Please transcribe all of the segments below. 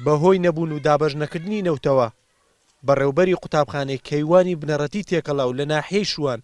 بەهۆی نەبوون و دابەش نەکردنی نەوتەوە، بەڕێوبەری قوتابخانەی کەیوانی بنەڕەتی تێکەڵاو لە ناحیەی شوان،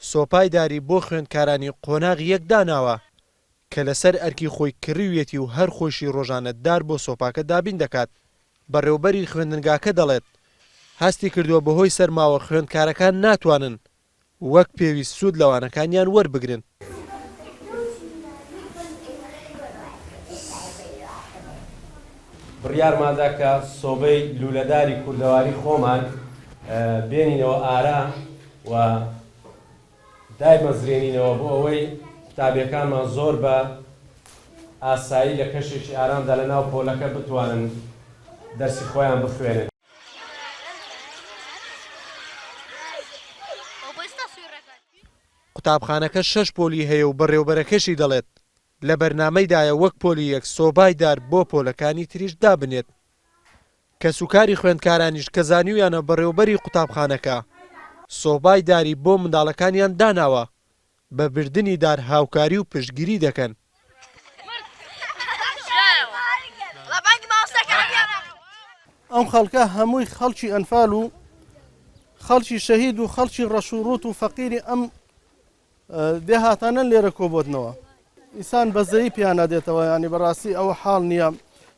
سۆپای داری بۆ خوێندکارانی قۆناغ یەک داناوە. کە لەسەر ئەرکی خۆی کڕیویەتی و هەر خۆیشی رۆژانە دار بۆ سۆپاکە دابین دەکات. بەڕێوبەری خوێندنگاکە دەڵێت، هەستی کردووە بەهۆی سەرماوە خوێندکارەکان ناتوانن وەک پێویست سوود لە وانەکانیان وەربگرن. بڕیارماندا کە سۆبەی لوولەداری کوردەواری خۆمان بێنینەوە ئارا و، دایمەزرێنینەوە بۆ ئەوەی قوتابیەکانمان زۆر بە ئاسایی لە کەشێکی ئارامدا لە ناو پۆلەکە بتوانن دەرسی خۆیان بخوێنن. قوتابخانەکە شەش پۆلی هەیە و بەڕێوبەرەکەشی دەڵێت، لە بەرنامەیدایە وەک پۆلی یەک سۆبای دار بۆ پۆلەکانی تریش دابنێت. کەسوکاری خوێندکارانیش کە زانیویانە بەڕێوەبەری قوتابخانەکە سۆبای داری بۆ منداڵەکانیان داناوە، بە بردنی دار هاوکاری و پشتگیری دەکەن. ئەم خەڵکە هەمووی خەڵکی ئەنفال و خەڵکی شەهید و خەڵکی ڕەش و ڕووت و فەقیری ئەم دێهاتانن لێرە کۆبۆتنەوە ئیسان بەزەیی پیانە دێتەوە ینی بەڕاستی ئەوە حاڵ نییە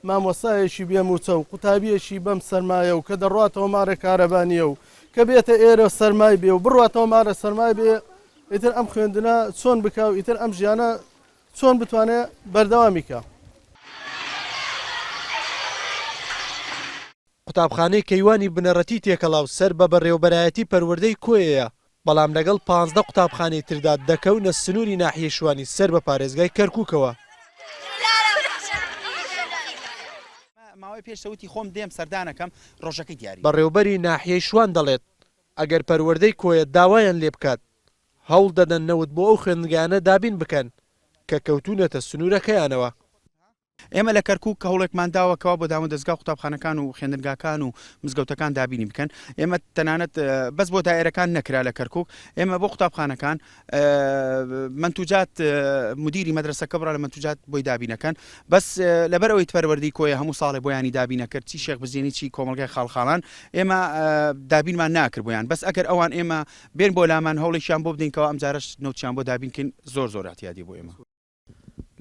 مامۆسایەکی بێ موچە و قوتابیەکی بەم سەرمایە و کە دەڕاتەوە مارە کارەبانیە و کە بێتە ئێرە سەرمای بێ و بڕاتەوە مارە سەرمای بێ ئیتر ئەم خوێندنە چۆن بکە و ئیتر ئەم ژیانە چۆن بتوانێت بەردەوامیکە. قوتابخانەی کەیوانی بنەڕەتی تێکەڵاو سەر بە بەڕێوەبەرایەتی پەروەردەی کۆیەیە، بەڵام لەگەڵ پانزدە قوتابخانەی تردا دەکەونە سنووری ناحیەی شوانی سەر بە پارێزگای کەرکووکەوە. بەڕێوبەری ناحیەی شوان دەڵێت، ئەگەر پەروەردەی کۆیە داوایان لێ بکات، هەوڵدەدەن نەوت بۆ ئەو خوێندنگایانە دابین بکەن کە کەوتوونەتە سنوورەکەیانەوە. ئێمە لە کەرکووک هەوڵێکمان داوە کەوا بۆ دامودەزگا و قوتابخانەکان و خوێندنگاکان و مزگەوتەکان دابینی بکەن ئێمە تەنانەت بەس بۆ دایرەکان نەکرا لە کەرکک ئێمە بۆ قوتابخانەکان منتوجات مدیری مەدرسەکە بڕە لە منتوجات بۆی دابینەکەن بەس لەبەر ئەوەی پەروەردی کۆیە هەموو ساڵێ بۆیانی دابینەکرد چی شێخ بزیێنی چی کۆمەلگای خاڵخاڵان ئێمە دابینمان ناکرد بۆیان بەس ئەگەر ئەوان ئێمە بێن بۆ لامان هەوڵێکیان بۆ بدەینکەوە ئەمجارش نوتیان بۆ دابینکن زۆر زۆر احتیادی بۆ ئێمە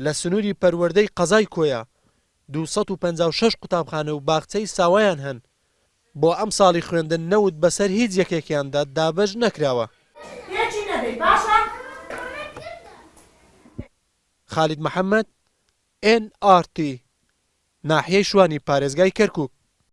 لە سنووری پەروەردەی قەزای کۆیە دوو سەد و پەنجا و شەش قوتابخانە و باخچەی ساوایان هەن، بۆ ئەمساڵی خوێندن نەوت بەسەر هیچ یەکێکیاندا دابەش نەکراوە. خالید محەمەد، ئێن ئاڕ تی، ناحیەی شوانی پارێزگای کەرکووک.